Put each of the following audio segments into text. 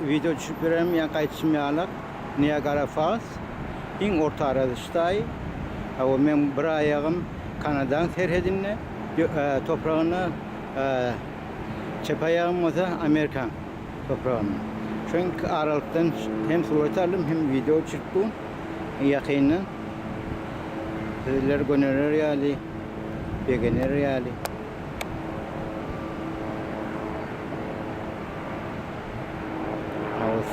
Wideo düşüp ýörem ýa gaýtyşym ýalak Niagara Falls iň orta aradyş daýy Hawa meň bir aýagym Kanadaň serhedinde topragynda çep aýagym bolsa Amerikaň topragynda şo iki aralykdan hem surat aldym hem wideo düşürip bu ýakyndan sizler gönerer ýaly begener ýaly.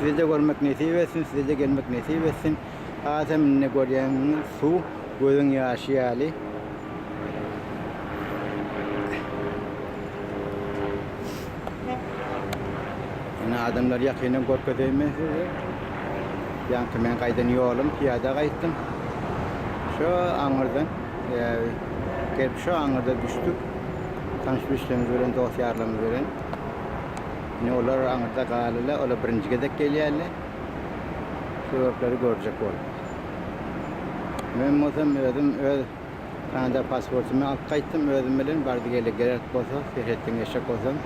Sizi de görmek nesip etsin, size de gelmek nesip etsin. Adem ne görýäňiz? Su gözüň ýaşy ýaly. Ine adamlar ýakyndan görkezeýme size. Ýaňky men gaýdan ýolum, piýada gaýtdym. Şu aňyrdan Gelip şu aňyrda düşdük. Tanyş bişlerimiz bilen, dost-ýarlarymyz bilen. Indi olar aňyrda galylar. Olar birinji gezek gelýärler. Suratlara görjek bolup. Men bolsa özüm öz Kanada pasportymy alyp gaýtdym özüm bilen. Bardy-geldi gerek bolsa, serhetden geçjek bolsam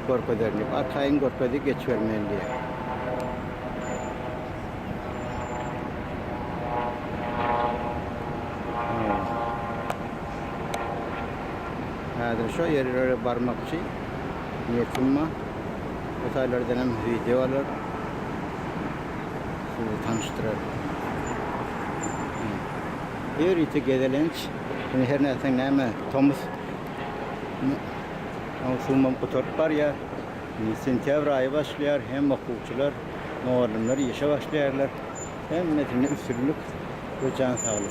görkezerin diýip. Arkaýyn görkezdi, geçibermeýin diýýär. Häzir şo ýerlere barmakçy niýetim bar. Bu taýlardan hem wideo alar. Sizi tanyşdyrar. Her ýiti gezelenç. Indi her nätseň näme tomus mowsumam gutaryp barýar. Sentýabr aýy başlaýar hem okuwçylar Mugallymlar işe başlaýarlar. Hemmesine üstünlik we jan saglyk.